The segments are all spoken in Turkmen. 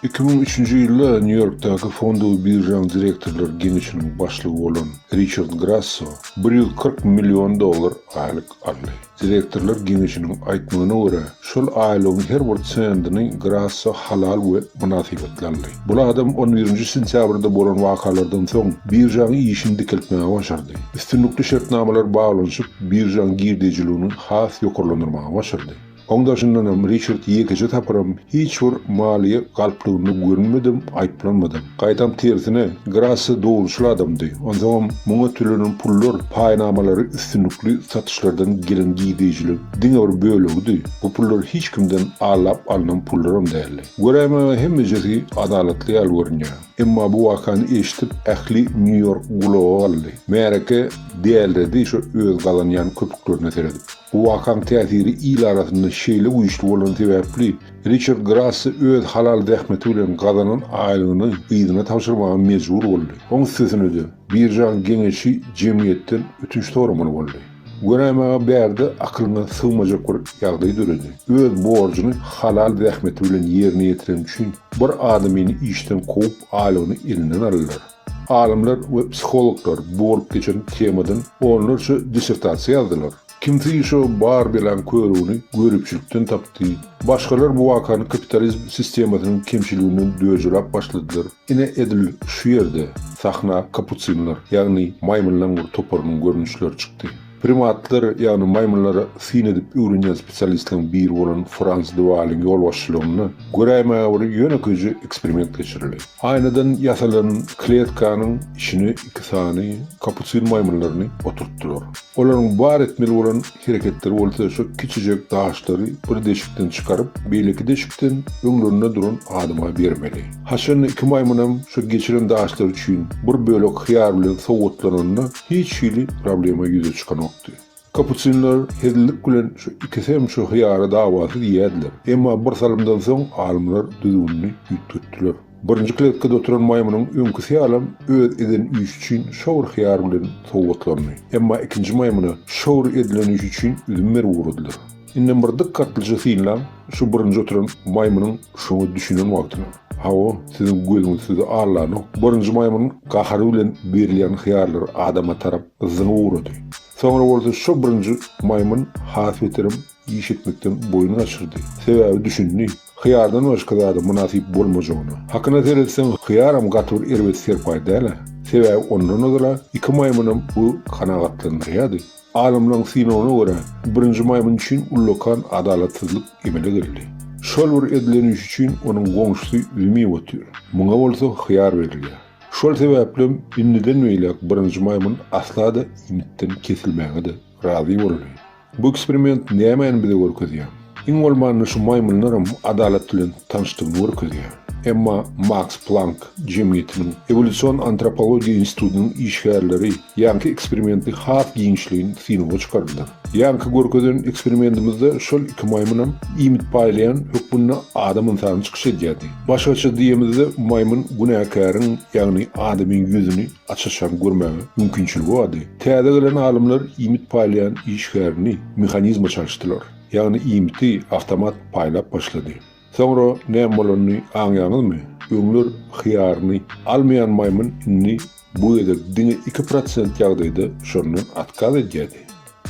Iki müň üçünji ýylda Nýu-Ýorkdaky fondowy biržaň direktorlar geňeşiniň başlygy bolan Riçard Grasso bir ýüz kyrk million dollar aýlyk aldy. Direktorlar geňeşiniň aýtmagyna görä, şol aýlygyň her bir sendini Grasso halal we mynasybetli aldy. Bul adam on birinji sentýabrda bolan wakalardan soň biržaň işini dikeltmäge başardy. Üstünlikli şertnamalar baglanyşyp, biržaň girdejiligini has ýokarlandyrmaga başardy. Oň daşyndanam Riçard ýekeje tapyram hiç bir maliýe galplygynda görünmedem, aýyplanmadam. Gaýtam tersine, Grassi dogruçyl adamdy. Onsoňam, muňa tölenen pullar, paýnamalary üstünlikli satyşlardan gelen girdejilik diňe bir bölegidi. Bu pullar hiç kimden allap alnan pullaram däldi. Göräýmäge hemmejesi adalatly ýaly görünýär. Emma bu wakany eşidip ähli Nýu-Ýork gulaga galdy. Märeke däliredi şo öz gazanýan köpüklerine seredip. Bu wakaň täsiri il arasynda şeýle güýçli bolan sebäpli Riçard Grassi öz halal zähmeti bilen gazanan aýlygyny gyzyna tabşyrmaga mejbur boldy. Oň üstesine-de, biržaň geňeşi jemgyýetden ötünç soramaly boldy. Göräý maňa bärde akylyňa sygmajak bir ýagdaý döredi. Öz borjuny halal zähmeti bilen ýerine ýetiren üçin bir adamyny işden kowup aýlygyny elinden aldylar. Alymlar we psihologlar bu bolup geçen temadan onlarça dissertasiýa ýazdylar. Kimsi şo bar belaň körügini göripçilikden tapdy, başgalar bu wakany kapitalizm sistemasynyň kemçiliginden döjelap başladylar. Ine edil şu ýerde sahna kapusinler, ýagny maýmynlaň bir toparynyň görnüşleri çykdy. Primatlar, ýagny maýmynlara syn edip öwrenýän spesialistleriň biri bolan Frans de Waaliň ýolbaşçylygynda göräýmäge bir ýönekeýje eksperiment geçirildi. Aýnadan ýasalan kletkanyň içine iki sany kapusin maýmynlaryny oturtdylar. Olaryň bar etmeli bolan Hereketleri bolsa şo kiçijek daşlary bir deşikden çykaryp, beýleki deşikden öňlerinde duran adama bermeli. Haçanda iki maýmynam şo geçiren daşlary üçin bir bölek hyýar bilen sowgatlananda hiç hili problema ýüze çykanokdy. Kapusinler hezillik bilen şo iki semçe hyýara dawasyz iýerdiler. Emma bir salymdan soň alymlar düzgünini üýtgetdiler. Birinji kletkada oturan maýmynyň öňküsi ýalam öz eden işi üçin şor hyýar bilen sowgatlandy. Emma ikinji maýmyna şor edilen işi üçin üzüm berip ugradylar. Indem bir dykgatlyja synlaň, şu birinji oturan maýmynyň şoňa düşünen wagtyny. Hawa, siziň gözüňiz sizi aldanok. Birinji maýmynyň gahary bilen berilýän hyýarlar adama tarap zyňyp ugrady. Soňra bolsa şo birinji maýmyn has beterem Iş etmekden boýun gaçyrdy. Sebäbi düşündi, hyýardan başga zada mynasyp bolmajagyna. Hakyna seretseň, hyýaram gaty bir erbet serpaý däl-ä. Sebäbi ondan ozal-a iki maýmynam bu kanagatlandyrýardy. Alymlaryň synagyna görä, birinji maýmyn üçin ullakan adalatsyzlyk emele geldi. Şol bir edilen iş üçin onuň goňşusy zümip otyr. Muňa bolsa hyýar berilýär. Şol sebäplem indiden beýläk birinji maýmyn asla-da iýmitden kesilmäge-de razy boldy. Bu eksperiment nämäni bize görkezýär? Iň bolmanda şu maýmynlaram adalat bilen tanyşdygyny görkezýär. Emma Maks Plank jemgyýetiniň Ewolýusion antropologiýa institutynyň işgärleri ýaňky eksperimenti has giňişleýin synaga çykardylar. Ýaňky görkezen eksperimentimizde şol iki maýmynam iýmit paýlaýan hökmünde adam ynsany çykyş edýärdi. Başgaça diýemizde maýmyn günäkäriň, ýagny adamyň ýüzüni açyşan görmäge mümkinçiligi bardy. Täze gelen alymlar iýmit paýlaýan işgärini mehanizme çalyşdylar. Ýagny iýmiti awtomat paýlap başlady. Soňra näme bolanyny aňýaňyzmy? Öňler hyýaryny almaýan maýmyn indi bu gezek diňe iki prosent ýagdaýda şondan otkaz edýärdi.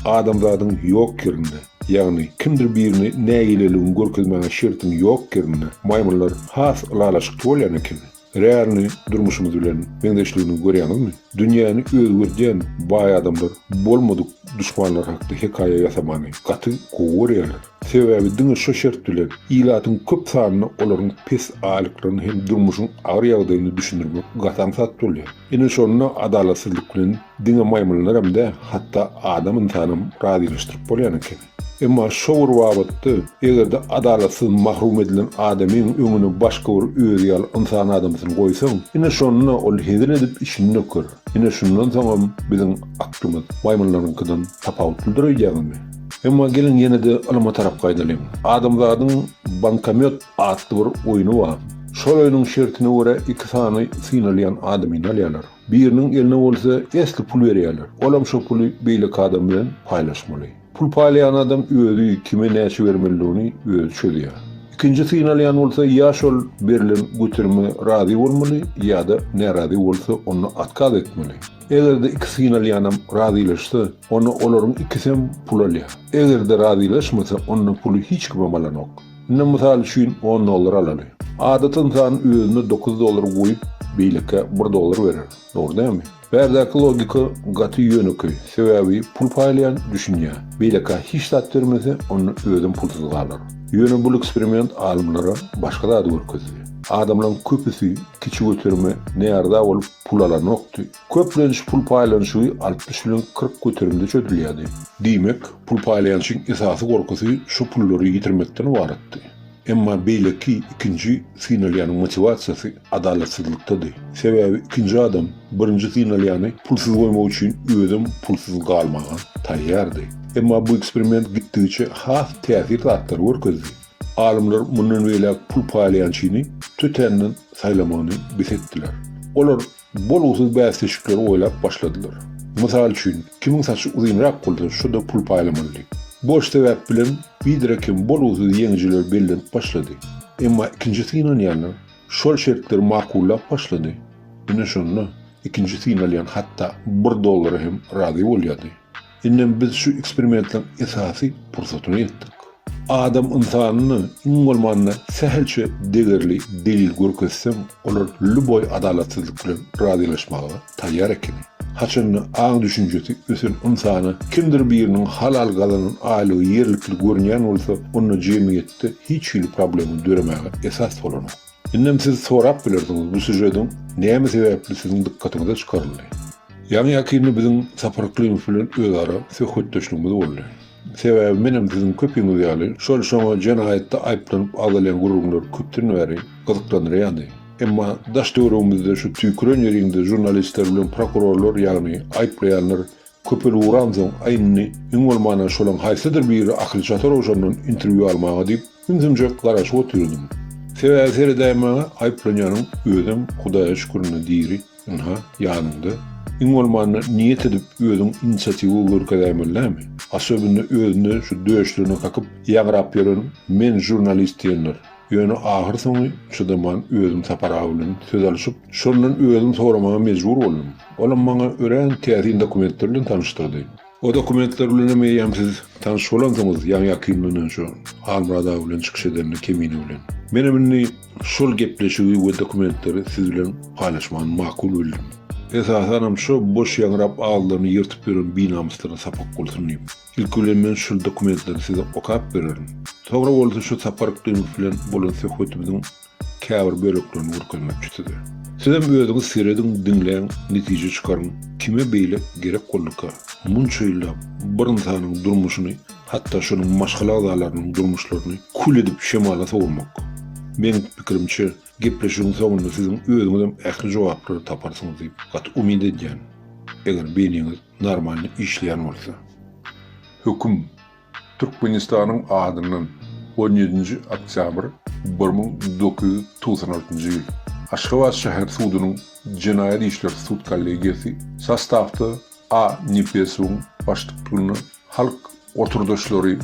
Adamzadyň ýok ýerinde, ýagny kimdir birine nägileligiňi görkezmäge şertiň ýok ýerinde maýmynlar has ylalaşykly bolýan ekeni. Realny durmuşymyz bilen meňzeşligini görýäňizmi? Dünýäni özgerdýän baý adamlar bolmadyk duşmanlar hakda hekaýa ýasamany gaty gowy görýärler. Sebäbi diňe şo şert bilen ilatyň köp sanyna olaryň pes aýlyklaryny hem durmuşyň agyr ýagdaýyny düşündirmek gaty aňsat bolýar. Ine şonda adalatsyzlyk bilen diňe maýmynlaram dä, hatda adam ynsanam razylaşdyryp bolýan eken. Emma şo bir babatda, eger-de adalatsyz mahrum edilen adamyň öňüne başga bir özi ýaly ynsan adamsyny goýsaň, ine şonda ol hezil edip içini döker. Ine şundan soňam biziň aklymyz maýmynlaryňkydan tapawutlydyr öýdýäňizmi? Emma geliň ýene-de ylyma tarap gaýdalyň. Adamzadyň Bankomýot atly bir oýny bar. Şol oýnuň şertine görä iki sany synalýan adamyny alýarlar. Biriniň eline bolsa esli pul berýärler. Olam şo puly beýleki adam bilen paýlaşmaly. Pul paýlaýan adam özi kime näçe bermelidigini özi çözýär. Ikinji synalýan bolsa ýa şol berlen göterime razy bolmaly ýa-da närazy bolsa onda otkaz etmeli. Eger-de iki synalýanam razylaşsa, onda olaryň ikisem pul alýar. Eger-de razylaşmasa onda puly hiç kimem alanok. Indi mysal üçin on dollar alaly. Adaty ynsan özüne dokuz dollar goýup, beýlekä bir dollar berer. Dogry dälmi? Bärdäki logika gaty ýönekeý, sebäbi pul paýlaýan düşünýä, beýlekä hiç zat bermese, onda özem pulsuz galar. Ýöne bul eksperiment alymlara başga zady görkezdi. Adamlaryň köpüsi kiçi göterime närdä bolup pul alanokdy, Köpleniş pul paýlanyşygy altmyş bilen kyrk göterimde çözülýärdi. Diýmek, pul paýlaýançyň esasy gorkusy şu pullary ýitirmekden ybaratdy. Emma beýleki, ikinji, synalýanyň motiwasiýasy adalatsyzlykdady. Sebäbi ikinji adam birinji synalýany pulsuz goýmak üçin özem pulsuz galmaga taýýardy. Emma bu eksperiment gitdigiçe has täsir zatlary görkezdi. Alymlar mundan beýläk pul paýlaýançyny tötänden saýlamagyny bes etdiler. Olar bolgusyz bäsleşikleri oýlap başladylar. Mysal üçin, kimiň saçy uzynrak bolsa, şo-da pul paýlamaly diýip. Boş sebäp bilen biderek hem bolgusyz ýeňijiler bellenip başlady. Emma ikinji synanýanlar şol şertleri makullap başlady. Ine şonda ikinji synalýan hatda bir dollara hem razy bolýardy. Indem biz şu eksperimentleň esasy pursatyna ýetdik. Adam ynsanyna iň bolmanda sähelçe degerli delil görkezseň, olar lýuboý adalatsyzlyk bilen razylaşmaga taýýar ekeni. Haçanda aň düşünjesi ösen ynsana kimdir biriniň halal gazanan aýlygy ýerlikli görünýän bolsa, onda jemgyýetde hiç hili problema döremäge esas bolanok. Indem siz sorap bilersiňiz bu sýužediň näme sebäpli siziň dykgatyňyza çykaryldy? Ýaňy ýakynda biziň Sapar Yklymov bilen özara söhbetdeşligimiz boldy. Sebäbi menem siziň köpiňiz ýaly şol şoňa jenaýatda aýyplanyp agzalýan gürrüňler köpden bäri gyzyklandyrýandy. Emma daş-töweregimizde şu tüýküren ýeriňde žurnalistler bilen prokurorlar ýagny aýyplaýanlar Köpel uransoň, Aý indi, iň bolmanda şolaň haýsydyr biri Akyl Çatarowşandan interwýu almaga diýip, ümsümjek garaşyp otyrdym. Sebäbi seredäýen maňa aýyplanýanyň özem, Hudaýa şükür indi diri, ynha, ýanyňda. Iň bolmanda niýet edip özüň inisiatiwa görkezäýmeli näme? Asobynda özüne şu döşlerini kakyp ýaňrap ýören men žurnalist diýenler. Ýöne ahyrsoňy çydaman özüm Sapar aga bilen söz alyşyp, şondan özüm soramaga mejbur boldum. Olam maňa örän täsin dokumentler bilen tanyşdyrdy. O dokumentler bilenem eýýäm siz tanyş bolansyňyz, ýaňy-ýakyn mundan şu Halmyrat aga bilen çykyş edende Kemine bilen. Menem indi şol gepleşigi we dokumentleri siz bilen paýlaşmany makul bildim. Esasanam şo boş ýaňrap agzylaryny ýyrtyp ýören binamyslaryna sapak bolsun diýip. Ilki bilen men şol dokumentleri size okap bererin. Soňra bolsa şu sapar Gylyjow bilen bolan söhbetimiziň käbir böleklerini görkezmekçi size. Sizem özüňiz serediň, diňläň, netije çykaryň, kime beýle gerek bolduka, munça ýyllap bir ynsanyň durmuşyny, hatda şonuň maşgala agzalarynyň durmuşlaryny kül edip şemala sowurmak? Meň pikirimçe, Gepleşigiň soňunda siziň özüňizem ähli jogaplary taparsyňyz diýip gaty umyt edýän, eger beýniňiz normalny işleýän bolsa. Höküm, Türkmenistanyň adyndan on ýedinji oktýabr bir müň dokuz ýüz togsan altynjy ýyl, Aşgabat şäher sudunyň jenaýat işler sud kollegiýasy sastawda A. Nepesowyň başlyklygynda Halk oturdaşlary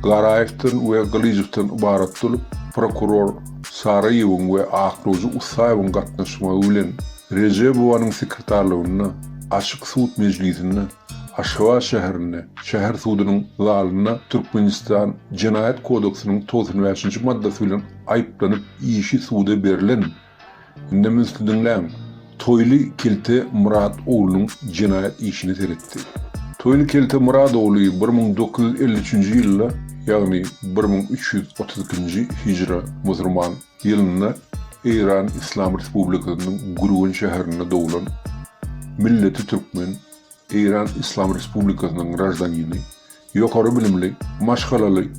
Garaýewden we Gylyjowdan ybarat bolup, prokuror Saraýewiň we aklawjy Ussaýewiň gatnaşmagy bilen Rejebowanyň sekretarlygynda açyk sud mejlisinde Aşgabat şäherinde, şäher sudunyň zalynda Türkmenistan Jenaýat kodeksiniň togsan bäşinji maddasy bilen aýyplanyp işi suda berlen Indem ünsli diňläň. Toýly kelte Myrat oglunyň jenaýat işini seretdi. Toýly kelte Myrat ogly bir müň dokuz ýüz elli üçünji ýylda, ýagny bir müň üç ýüz otuz ikinji hijra, musurman, ýylynda Eýran Yslam Respublikasynyň Gürgen şäherinde doglan, milleti türkmen, Eýran Yslam Respublikasynyň graždanini, ýokary bilimli, maşgalaly,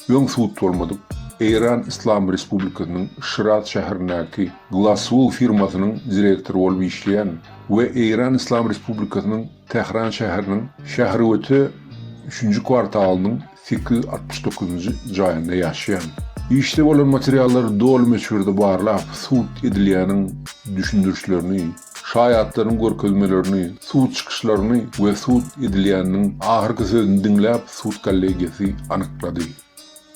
öň-sut bolmadyk Eýran Yslam Respublikasynyň Şiraz şäherindäki Glasswool firmasynyň direktory bolup işleýän we Eýran Yslam Respublikasynyň Tähran şäheriniň şähergöte üçünji kwartalynyň sekiz ýüz altmyş dokuzynjy jaýynda ýaşaýan. Işde bolan materiallary doly möçberde barlap, sud edilýäniň düşündirişlerini, Şaýatlaryň görkezmelerini, sud çykyşlaryny we sud edilýäniniň ahyrky sözüni diňläp sud kollegiýasy anyklady.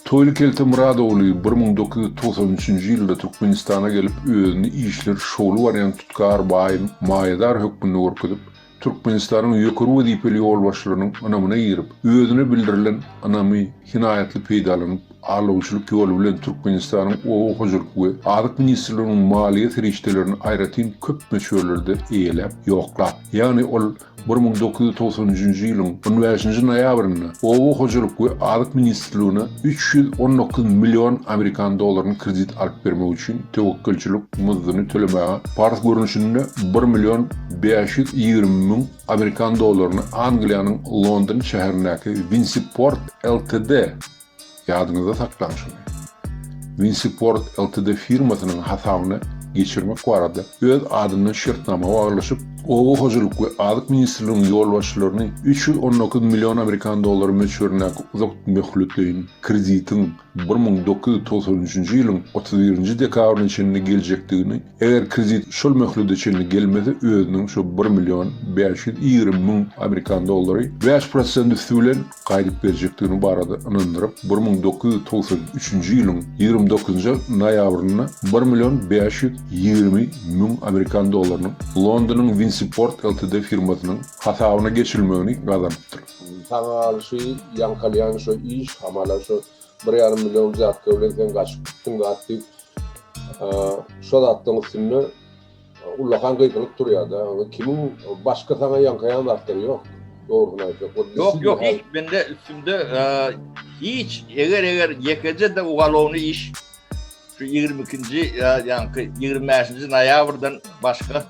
Toýly kelte Myradogly bir müň dokuz ýüz togsan üçünji ýylda Türkmenistana gelip özüni işleri şowly barýan tutkar baýyň maýadar hökmünde görkezip, Türkmenistanyň ýokary wezipeli ýolbaşçylarynyň ynamyna girip, özüne bildirilen ynamy hinaýatly peýdalanyp, Arlawçylyk ýoly bilen Türkmenistanyň Oba hojalyk we azyk ministrliginiň maliýe serişdelerini aýratyn köp möçberlerde eýeläp, ýoklap. Ýagny ol bir müň dokuz ýüz togsan üçünji ýylyň on bäşinji noýabrynda Oba hojalyk we azyk ministrligine üç ýüz on dokuz million amerikan dollaryny kredit alyp bermek üçin töwekgelçilik muzdyny tölemäge parz görnüşinde bir million bäş ýüz ýigrimi müň amerikan dollaryny Angliýanyň London şäherindäki Winsiport Ltd. Ýadyňyzda saklaň şuny. Winsiport Ltd firmasynyň hasabyna geçirmek barada öz adyndan şertnama baglaşyp, Oba hojalyk we azyk ministrliginiň ýolbaşçylaryny üç ýüz on dokuz million amerikan dollary möçberindäki uzak möhletleýin kreditiň bir müň dokuz ýüz togsan üçünji ýylyň otuz birinji dekabryna çenli geljekdigini Eger kredit şol möhlede çenli gelmese özüniň şu bir million bäş ýüz ýigrimi müň amerikan dollary bäş prosent üsti bilen gaýdyp berjekdigini barada ynandyryp bir müň dokuz ýüz togsan üçünji ýylyň ýigrimi dokuzynjy noýabrynda bir million bäş ýüz ýigrimi müň amerikan dollarynyň Londonyň Winsiport Ltd firmasynyň hasabyna geçirilmegini gazanypdyr. Saňa alşy ýaňkalýan şo iş hamala şo bir ýarym million wzýatka bilen sen gaçyp gitdiň zat diýip Şol zatdan üstünde ullakan gygylyp durýar-da. Kimin başga sana ýankaýan zatlar ýok. Dogruny aýtsak. Ýok, ýok, hiç mende üstünde hiç eger eger ýekeje de ugalowny iş şu 22-nji ýa-da 25-nji noýabrdan başga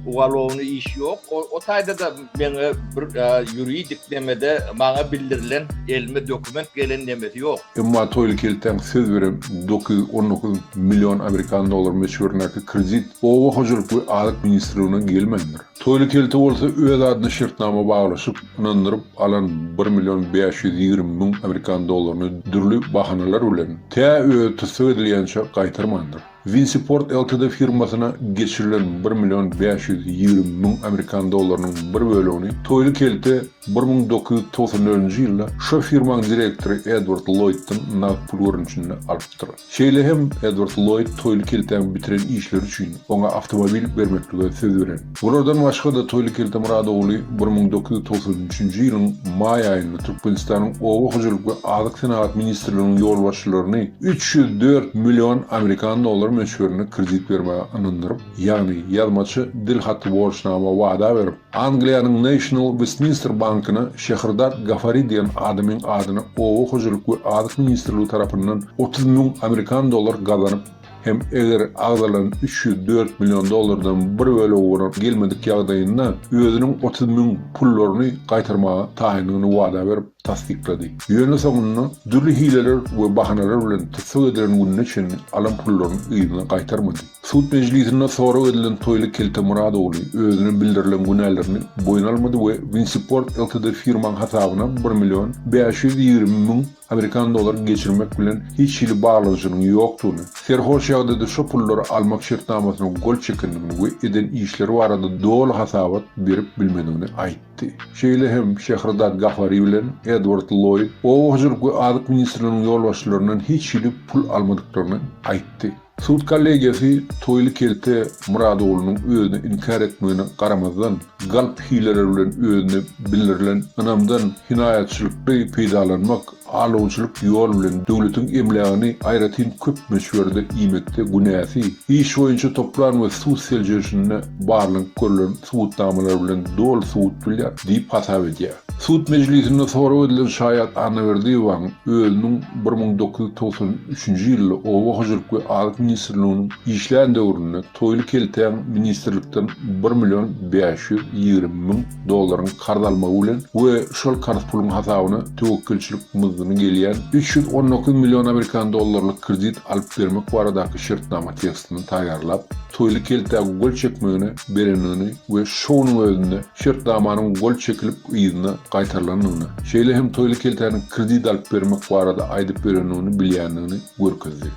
ugalowny iş yok. O, o tayda da meni bir yuridik e, nemede bana bildirilen elime dokument gelen nemesi yok. Emma toyly kelten söz berip 919 million amerikan dollar möçberindeki kredit oba hojalyk ve azyk ministrligine gelmendir. Toyly kelte bolsa öz adyna şertnama baglaşyp, ynandyryp alan bir million bäş ýüz ýigrimi müň amerikan dollaryny dürli bahanalar bilen, tä özi tussag edilýänçe gaýtarmandyr. Winsiport Ltd firmasyna geçirilen bir million bäş ýüz ýigrimi müň amerikan dollarynyň bir bölegini Toýly kelte bir müň dokuz ýüz togsan dördünji ýylda şo firmaň direktory Edward Lloýddan nagt pul görnüşinde alypdyr. Şeýle hem Edward Lloýd Toýly keltäň bitiren işleri üçin oňa awtomobil bermeklige söz beren. Bulardan başga-da Toýly Keltemyrat ogly bir müň dokuz ýüz togsan üçünji ýylyň maý aýynda Türkmenistanyň Oba hojalyk we azyk senagat ministrliginiň ýolbaşçylaryny üç ýüz dört million amerikan dollary möçberinde kredit bermäge ynandyryp, ýagny ýazmaça dil haty borçnama wada berip, Angliýanyň National Westminster bankyna Şehrdad Gafari diýen adamyň adyna Oba hojalyk we azyk ministrligi tarapyndan otuz müň amerikan dollar gazanyp, Hem eger agzalan üç ýüz dört million dollardan bir bölegi bolan gelmedik ýagdaýynda özüniň otuz müň pullaryny gaýtarmaga taýyndygyny wada berip tassyklady. Ýöne soňunda dürli hileler we bahanalar bilen tussag edilen gününe çenli alan pullaryny yzyna gaýtarmady. Sud mejlisinde sorag edilen Toýly Kelte Murad ogly özüne bildirilen günälerini boýun almady we Winsiport ltd firmaň hasabyna bir million bäş ýüz ýigrimi müň Amerikan dollaryny geçirmek bilen hiç hili baglanyşynyň ýokdugyny, serhoş ýagdaýda şo pullary almak şertnamasyna gol çekendigini we eden işleri barada doly hasabat berip bilmedigini aýtdy. Şeýle hem Şehrzad Gafari bilen Edward Lloýd oba hojalyk we azyk ministrliginiň ýolbaşçylaryndan hiç hili pul almadyklaryny aýtdy. Sud kollegiýasy Toýly kelte Murad oglunyň özüni inkär etmegine garamazdan, galp hileler bilen özüne bildirilen ynamdan hinaýatçylykly peýdalanmak, alawçylyk ýol bilen döwletiň emlägini aýratyn köp möçberde iýmekde günäsi, iş boýunça toplan we sud seljerişinde barlanyp görlen subutnamalar bilen doly subut bilýär diýip hasap edýär. Sud mejlisinde sorag edilen şaýat Annaberdiýewäň özüniň bir müň dokuz ýüz togsan üçünji ýylda Oba hojalyk we azyk ministrliginiň işlän döwründe Toýly keltäň ministrlikden bir million bäş ýüz ýigrimi müň dollaryň karz almagy bilen we şol karz puluň hasabyna töwekgelçilik muzdyny gelýän üç ýüz on dokuz million amerikan dollarlyk kredit alyp bermek baradaky şertnama tekstini taýýarlap Toýly keltä gol çekmegine berendigini we şowunyň özünde şertnamanyň gol çekilip yzyna gaýtarylandygyny, şeýle hem Toýly keltäniň kredit alyp bermek barada aýdyp ýörendigini bilýändigini görkezdi.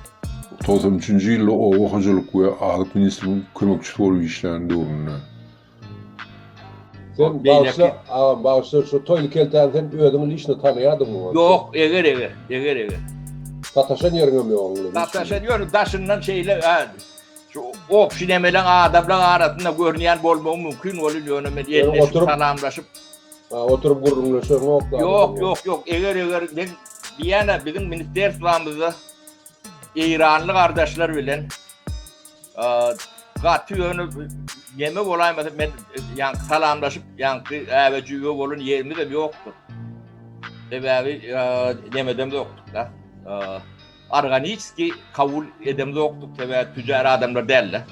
Togsan üçünji ýylda oba hojalyk we azyk ministriniň kömekçisi bolup işlän döwründe. Sen bagyşla agam bagyşla şu Toýly keltäni sen özüň il içinde tanaýadyňmy onsoň? Ýok eger eger eger eger. Sataşan ýeriňem ýok onuň bilen hiç hili. Sataşan ýok daşyndan şeýle Şu obşi nemeleň adamlaň arasynda görünýän bolmagy mümkin bolýar, ýöne men elleşip salamlaşyp oturyp gürrüňleşeňok. Ýok, ýok, ýok. Eger eger men diýýän biziň ministrstwamyzda eýranly gardaşlar bilen gaty ýöne neme bolaýmasa men ýaňky salamlaşyp ýaňky äbejiwe bolan ýerimiz hem ýokdur. Sebäbi nemedem ýokdur da. Organiski kabul edemzokdyk sebäbi tüjär adamlar däldi.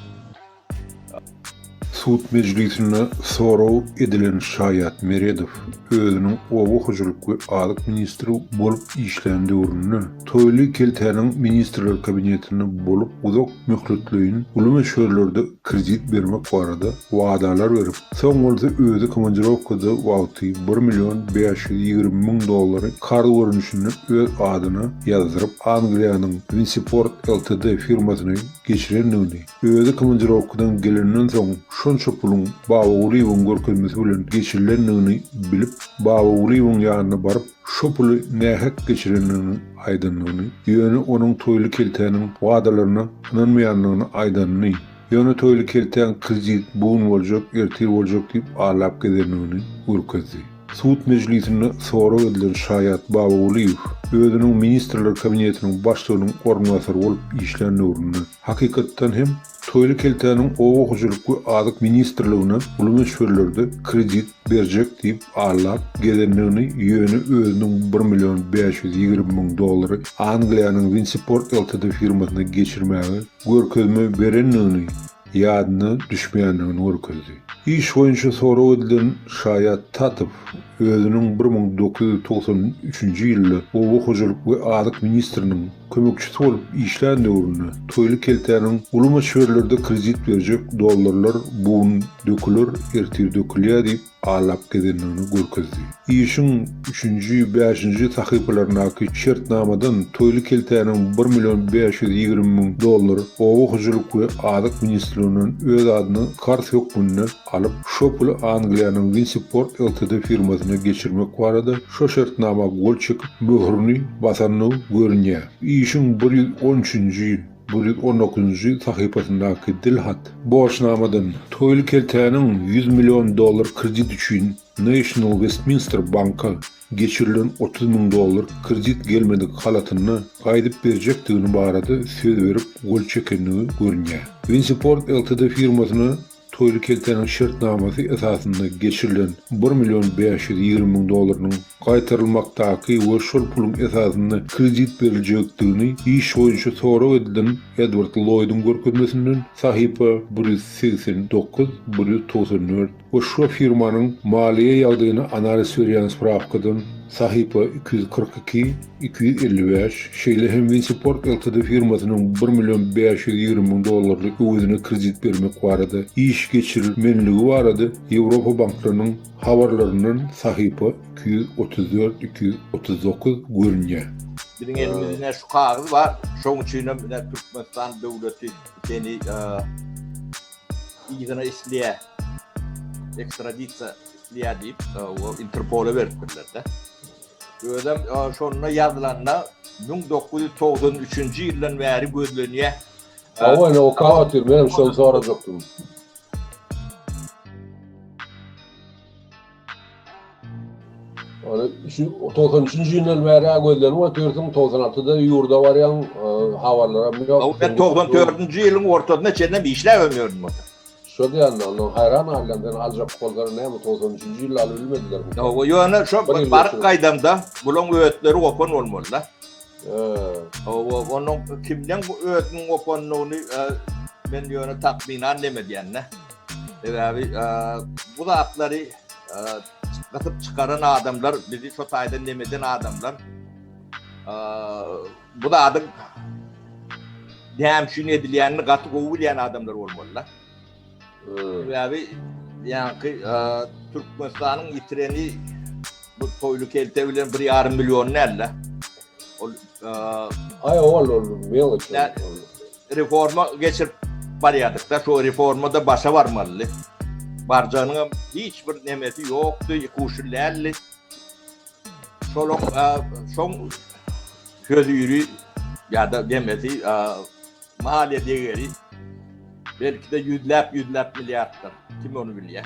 Sud mejlisinde sorag edilen şaýat Meredow özüniň oba hojalyk we azyk ministri bolup işlän döwründe Toýly keltäniň Ministrler kabinetinde bolup uzak möhletleýin uly möçberlerde kredit bermek barada wadalar berip, Soň bolsa özi komandirowkada wagty bir million bäş ýüz ýigrimi müň dollary karz görnüşinde öz adyna ýazdyryp, Angliýanyň Winsiport Ltd firmasyna geçirendigini, özi komandirowkadan gelenden soň şonça puluň Babagulyýewiň görkezmesi bilen geçirilendigini bilip, Babagulyýewiň ýanyna baryp, şo puly nähak geçirendigini aýdandygyny, ýöne onuň Toýly keltäniň wadalaryna ynanmaýandygyny aýdanyny, Ýöne Toýly keltäň kredit bogun boljak, ertir boljak diýip alap gezendigini görkezdi. Sud mejlisinde sorag edilen şaýat Babagulyýew özüniň Ministrler Kabinetiniň başlygynyň orunbasary bolup işlän döwründe, hakykatdan hem, Toýly keltäniň Oba hojalyk we azyk ministrligine uly möçberlerde kredit berjek diýip alap gezendigini ýöne özüniň bir million bäş ýüz ýigrimi müň dollary Angliýanyň Winseaport Ltd firmasyna geçirmäge görkezme berendigini ýadyna düşmeýändigini görkezdi. Iş boýunça sorag edilen şaýat Tatow özüniň bir müň dokuz ýüz togsan üçünji ýylda oba hojalyk we azyk ministriniň kömekçisi bolup işlän döwründe Toýly keltäniň Uly möçberlerde kredit berjek dollarlar bu gün döküler, ertir dökülýär diýip, Alap gezendigini görkezdi. Işiň üçünji, bäşinji sahypalaryndaky şertnamadan Toýly keltäniň bir million bäş ýüz ýigrimi müň dollar Oba hojalyk we azyk ministrliginden öz adyna karz hökmünde alyp, şo puly Angliýanyň Winsi-Port Ltd firmasyna geçirmek barada şo şertnama gol çekip, möhürini basanyny görünýär. Işiň bir ýüz on üçünji, Bir ýüz on dokuzynjy sahypasyndaky dilhat borçnamadan Toýly keltäniň ýüz million dollar kredit üçin National Westminster banka geçirilen otuz müň dollar kredit gelmedik halatyna gaýdyp berjekdigini barada söz berip gol çekendigi görünýär. Vinsiport Ltd firmasyna Toýly keltäniň şertnamasy esasynda geçirilen bir million bäş ýüz ýigrimi müň dollarynyň gaýtarylmakdaky we şol puluň esasynda kredit beriljekdigini iş boýunça sorag edilen Edward Lloýduň görkezmesinden, sahypa bir ýüz segsen dokuz, bir ýüz togsan dört, we şo firmanyň maliýe ýagdaýyna analiz berýän sprawkadan, sahypa iki ýüz kyrk iki, iki ýüz elli bäş, şeýle hem Winsiport Ltd firmasynyň bir million bäş ýüz ýigrimi müň dollarlyk öwezine kredit bermek barada iş geçirilmänligi barada Ýewropa banklarynyň habarlaryndan sahypa iki ýüz otuz dört, iki ýüz otuz dokuz, görünýär. Biziň elimizde ine şu kagyz bar. Şoň üçin hem ine Türkmenistan döwleti seni yzyna isleýär. Ekstradisiýa isleýär diýip, Interpola beripdirler-de. Özem şonda ýazylanda müň dokuz ýüz togsan üçünji ýyldan bäri gözlenýä. Hawa, ine okap otyr, menem şony sorajakdym. Ony şu togsan üçünji ýyldan bäri gözlenip otyrsyň, togsan altyda ýurda barýaň, habarlaram ýok. Togsan dördünji ýylyň ortasyna çenlem işläp ýörün. Şo diýende ondan haýran galýan seni aljak bolsalar näme togsan üçünji ýylda alyp bilmedilermi. Ýok ýöne şo baryp gaýdamda bulaň ötleri gopan bolmaly da. Hawa onuň kimden bu ötüniň gopandygyny men ýöne takmynan neme diýen da. Sebäbi bu zatlary gysyp çykaran adamlar bizi şo taýdan nemeden adamlar. Bu zadyň näme üçin edilýänini gaty gowy bilýän adamlar bolmaly-da. Sebäbi ýaňky Türkmenistanyň ýitireni bu toýly kelte bilen bir ýarym million däl-de. Ol Aý, ol ol meleç. Reforma geçirip barýardyk-da, şu reforma-da başa barmalydy. Barjagynyň hem hiç bir nemesi ýokdy, kuşul däldi. Şoloň şoň höziri ýa-da demesi maliýe degeri belki-de ýüzläp-ýüzläp milliarddyr. Kim ony bilýär?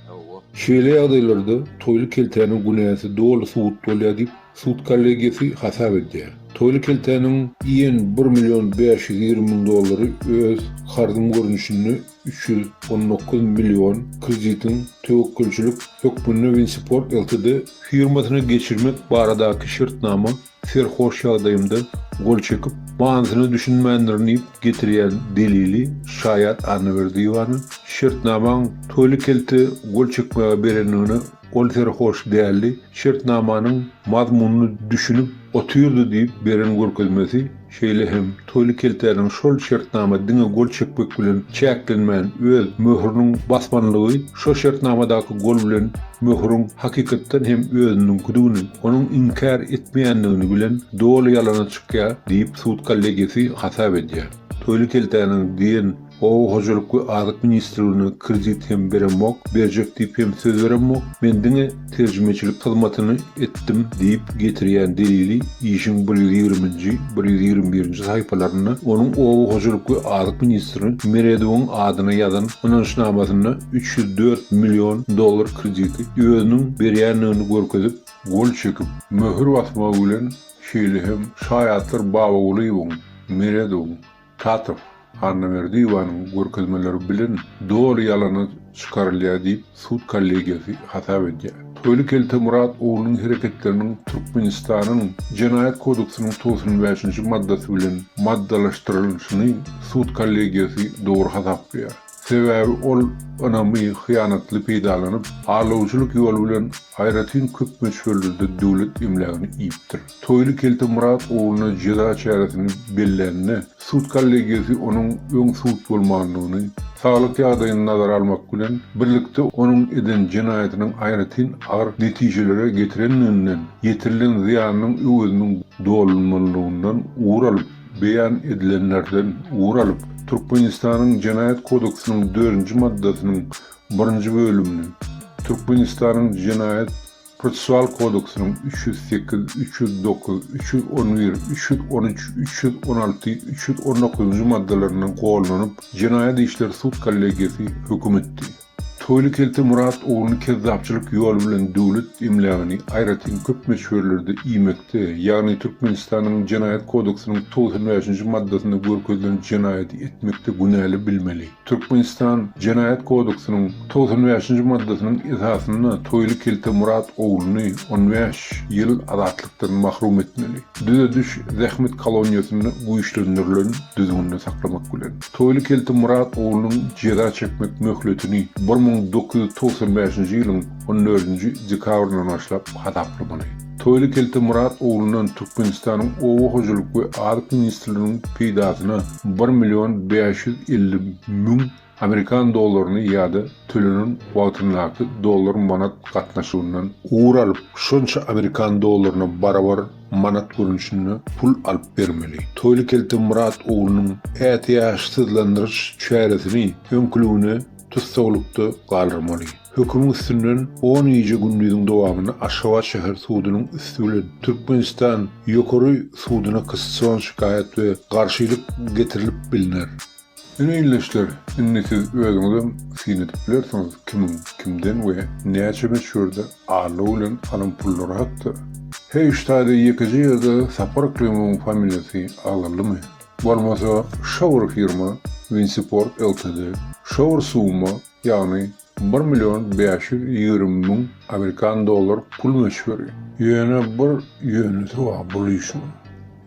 Hawa. Şeýle ýagdaýlarda Toýly keltäniň günäsi doly subut bolýar diýip, sud kollegiýasy hasap edýär. Toýly keltäniň iýen bir million bäş ýüz ýigrimi müň dollary öz karzym görnüşinde üç ýüz on dokuz million kreditiň töwekgelçilik hökmünde Winsport Ltd. Firmasyna geçirmek baradaky şertnama serhoş ýagdaýymda gol çekip, manysyna düşünmändirin diýip getirýän delili şaýat Annaberdiýewanyň şertnamaň Toýly Kelte gol çekmäge berendigine Ol serhoş däldi, şertnamanyň mazmunyny düşünip otyrdy diýip beren görkezmesi, şeýle hem Toýly keltäniň şol şertnama diňe gol çekmek bilen çäklenmän öz möhrüniň basmanlygy şo şertnamadaky gol bilen möhrüň hakykatdan hem özüniňkidigini, onuň inkär etmeýändigini bilen doly ýalana çykýar diýip sud kollegiýasy hasap edýär. Toýly keltäniň diýen Oba hojalyk we azyk ministrligine kredit hem beremok, berjek diýip hem söz beremok, men diňe terjimeçilik hyzmatyny etdim diýip getirýän delili işiň bir ýüz ýigriminji, bir ýüz ýigrimi birinji saýpalarynda onuň oba hojalyk we azyk ministri Meredowyň adyna ýazan ynançnamasynda üç ýüz dört million dollar krediti özüniň berýändigini görkezip, gol çekip, möhür basmagy bilen, şeýle hem şaýatlar Babagulyýewiň, Meredowyň, Tatow, Annaberdiýewanyň görkezmeleri bilen doly ýalana çykarylýar diýip, sud kollegiýasy hasap edýär. Köli kelte Murat oglunyň hereketleriniň Türkmenistanyň Jenaýat kodeksynyň togsan bäşinji maddasy bilen maddalaşdyrylyşyny sud kollegiýasy dogry hasaplaýar. Sebäbi ol ynamy hyýanatly peýdalanyp, alawçylyk ýoly bilen aýratyn köp möçberlerde döwlet emlägini iýipdir. Toýly kelte Myrat ogluna jeza çäresini bellände, sud kollegiýasy onuň öň sud bolmandygyny, saglyk ýagdaýyny nazara almak bilen birlikde onuň eden jenaýatynyň aýratyn agyr netijelere getirendiginden, ýetirilen zyýanynyň öweziniň dolunmalydygyndan ugur alyp, beýan edilenlerden ugur alyp, Türkmenistanyň Jenaýat kodeksiniň dördünji maddasynyň birinji bölümini, Türkmenistanyň Jenaýat Prosessual kodeksiniň üç ýüz sekiz, üç ýüz dokuz, üç ýüz on bir, üç ýüz on üç, üç ýüz on alty, üç ýüz on dokuzynjy maddalaryna gollanyp, jenaýat işleri sud kollegiýasy höküm etdi. Toýly kelte Myrat ogluny kezzapçylyk ýoly bilen döwlet emlägini aýratyn köp möçberlerde iýmekde, ýagny Türkmenistanyň Jenaýat kodeksiniň togsan bäşinji maddasynda görkezilen jenaýady etmekde günäli bilmeli. Türkmenistan Jenaýat kodeksiniň togsan bäşinji maddasynyň esasynda Toýly kelte Myrat ogluny on bäş ýyl azatlykdan mahrum etmeli. Düzediş zähmet koloniýasynda güýçlendirilen düzgünde saklamak bilen, Toýly kelte Myrat oglunyň jeza çekmek möhletini bir müň dokuz ýüz togsan bäşinji ýylyň on dördünji dekabryndan başlap hasaplamaly. Toýly kelte Myrat oglundan Türkmenistanyň Oba hojalyk we azyk ministrliginiň peýdasyna bir million bäş ýüz elli müň amerikan dollaryny ýa-da tölenen wagtyndaky dollar-manat gatnaşygyndan ugur alyp, şonça amerikan dollaryna barabar manat görnüşinde pul alyp bermeli. Toýly kelte Myrat oglunyň ätiýaçsyzlandyryş çäresini öňküligine tussaglykda galdyrmaly. Hökümiň üstünden on gije gündiziň dowamynda Aşgabat şäher sudunyň üsti bilen Türkmenistan Ýokary sudyna kassion şikaýat we garşylyk getirilip bilner. Ine ildeşler, indi siz özüňizem syn edip bilersiňiz kimiň kimden we näçe möçberde allow bilen alan pullary hakda. Heý şu taýda ýekeje ýerde Sapar Yklymyň familiýasy agzaldymy? Bolmasa şa bir firma Winsiport ltd. Şa bir summa ýagny bir million bäş ýüz ýigrimi müň amerikan dollar pul möçberi, ýöne bir ýöneşi bar bul işiň,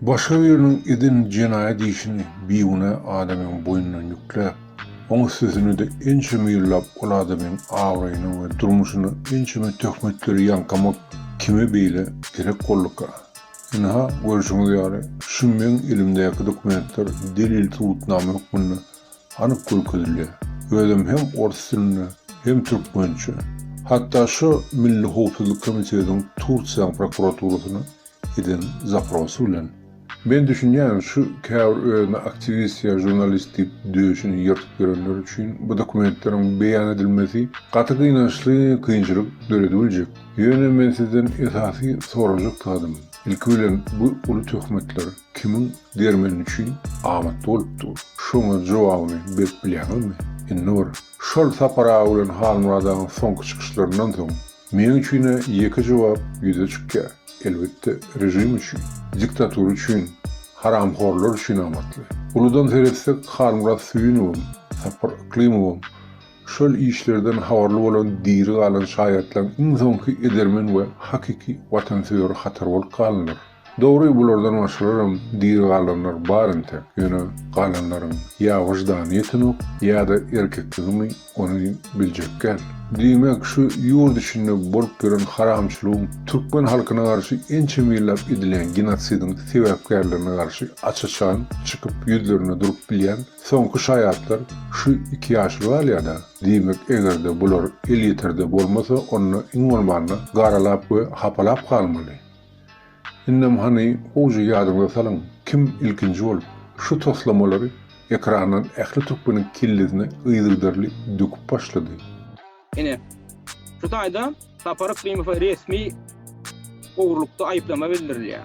başga biriniň eden jenaýat işini bigünä adamyň boýnuna ýükläp, oň üstesine-de ençeme ýyllap ol adamyň abraýyna we durmuşyna ençeme töhmetleri ýaňkamak kime beýle gerek bolduka? Ynha, görşüňiz ýaly, şu meň elimdäki dokumentler delil-subutnama hökmünde anyk görkezilýär. Özüm hem ors dilinde, hem türkmençe, hatda şo Milli howpsuzlyk komitetiň Tursiýanyň prokuraturasyna eden zaprosy bilen. Men düşünýän, şu käbir özüne aktiwist ýa žurnalist diýip döşüni ýyrtyp ýörenler üçin bu dokumentleriň beýan edilmesi gaty gynançly kynçylyk döredibiljek. Ýöne men sizden esasy sorajak zadym, ilki bilen bu uly töhmetler kimiň Dermen üçin amatly bolup dur. Şoňa jogabyny berip bilýäňizmi? Indi bir. Şol Sapar aga bilen Halmyrat agaň soňky çykyşlaryndan soň, meň üçin-ä ýeke jogap ýüze çykýar. Elbetde, režim üçin, diktatura üçin, haramhorlar üçin amatly. Uludan seretsek, Halmyrat Süýünowam, Sapar Yklymowam şol işlerden habarly bolan diri galan şaýatlaryň iň soňky edermen we hakyky watansöýer hatary bolup galanlar. Dogry bulardan başgalaram diri galanlar bar entek ýöne galanlaryň ýa wyždany ýetenok ýada erkekligimi ony biljekgäl. Diýmek şu ýurt içinde bolup ýören haramçylygyň türkmen halkyna garşy ençeme ýyllap edilýän genosidiň sebäpkärlerine garşy aç-açan çykyp ýüzlerine durup bilýän soňky şaýatlar şu iki ýaşuly galýada diýmek egerde bular elýeterde bolmasa onda iň bolmanda garalap we hapalap galmaly. Indem hany gowja ýadyňyza salyň, kim ilkinji bolup şu toslamalary ekrandan ähli türkmeniň kellesine yzygiderli döküp başlady? Ine, şu taýda Sapar Yklimowa resmi ogurlykda aýyplama bildirilýär.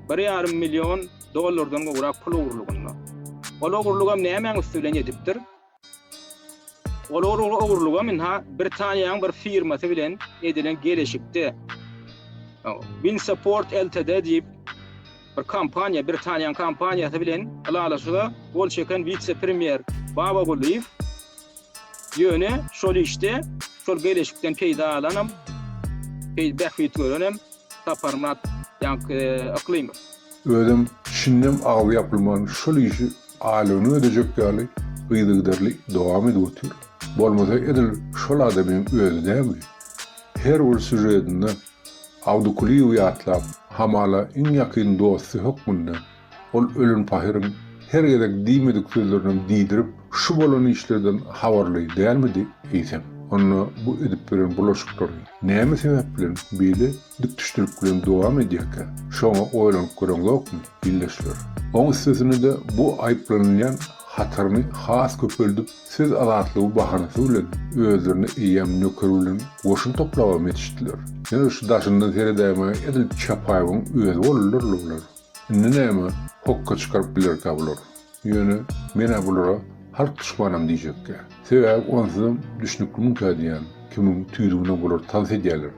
Bir ýarym million dollardan gowrak pul ogurlygynda. Ol ogurlygam nämäň üsti bilen edipdir? Olar ol ogurlygam ynha Britaniýanyň bir firmasy bilen edilen geleşikde Bin Support Ltd diýip bir kompaniýa, Britaniýanyň kompaniýasy bilen ylalaşyga gol çeken wise-premýer Babagulyýew ýöne şol işde şol geleşikden peýda alanam, bähbit görenem Saparmyrat ýaňky Yklymow. Özem çinden agzy ýapylman şol işi aýlygyna ödejek ýaly yzygiderli dowam edip otyr. Bolmasa edil şol adamyň özi dämi? Her bir sýužetinde Abdykulyýewi ýatlap, hamala iň ýakyn dosty hökmünde Ol ölen pahyryň her gezek diýmedik sözlerinem diýdirip, şu bolan işlerden habarly dälmidi eýsem? Onda bu edip ýören bulaşyklary näme sebäp bilen beýle dikdüşdilik bilen dowam edýärkä? Şoňa oýlanyp göreňzokmy, ildeşler? Oň üstesine-de bu aýyplanylýan hataryny has köpeldip, söz azatlygy bahanasy bilen özlerine eýýäm nöker bilen goşun toplaba metişdiler. Ýöne şu daşyndan seredäýmäge edil Çapaýewiň özi boldular-la bular. Indi näme hokga çykaryp bilerkä bular? Ýöne men-ä bulara halk duşmanam diýjekkä. Sebäbi onsuzam düşnüklimikä diýýän kimin tüýdügine bular tans edýäler.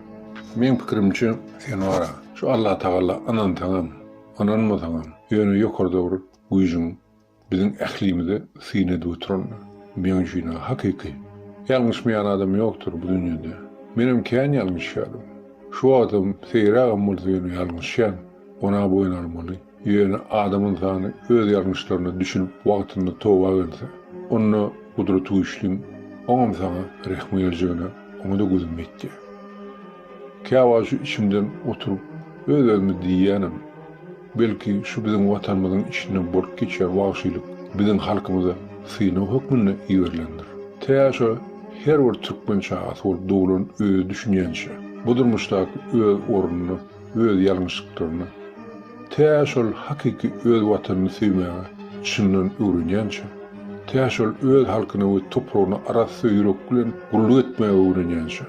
Meň pikirimçe, sen wara, şu Allatagala ynansaňam, ynanmasaňam, ýöne ýokarda bir güýjüň Biziň ählimize syn edip oturan meň üçin-ä hakyky. Ýalňyşmaýan adam ýokdur bu dünýede. Menem kän ýalňyşýardym. Şu wagtam seýrägem bolsa ýöne ýalňyşýan. Guna boýun almaly. Ýöne adam ynsany öz ýalňyşlaryna düşünip wagtynda toba gelse, onda Gudratygüýçliň oňam saňa rehmi geljegine oňa-da gözüm ýetýär. Käwagt şu içimden oturyp öz-özüme diýýänem, Belki, şu biziň Watanymyzyň içinden bolup geçýän wagşylyk biziň halkymyza synag hökmünde iberilendir. Tä şo her bir türkmen çagasy bolup doglan özi düşünýänçä, bu durmuşdaky öz ornuny, öz ýalňyşlyklaryny, tä şol hakyky öz Watanyny söýmäge çyndan öwrenýänçä, tä şol öz halkyna we topragyna arassa ýürek bilen gulluk etmäge öwrenýänçä,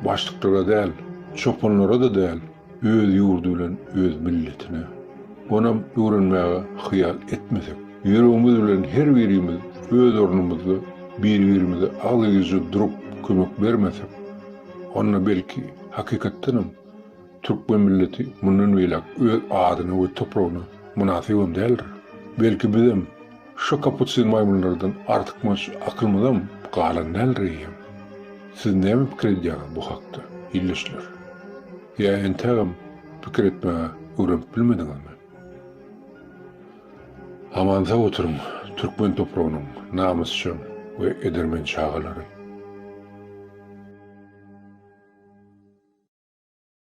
Başlyklara däl, çopanlara-da däl, öz ýurdy bilen öz milletine, onam öwrenmäge hyýal etmesek, ýüregimiz bilen her birimiz öz ornumyzda bir-birimize agzybirje durup kömek bermesek, onda belki, hakykatdanam, Türkmen milleti mundan beýläk öz adyna we topragyna mynasybam däldir. Belki bizem şo kapusin maýmynlardan artykmaç akylymyzam galan däldir eýýäm. Siz näme pikir edýäňiz bu hakda, ildeşler? Ýa entägem pikir etmäge öwrenip bilmediňizmi? Aman-sag oturyň, türkmen topragynyň namysjaň we edermen çagalary!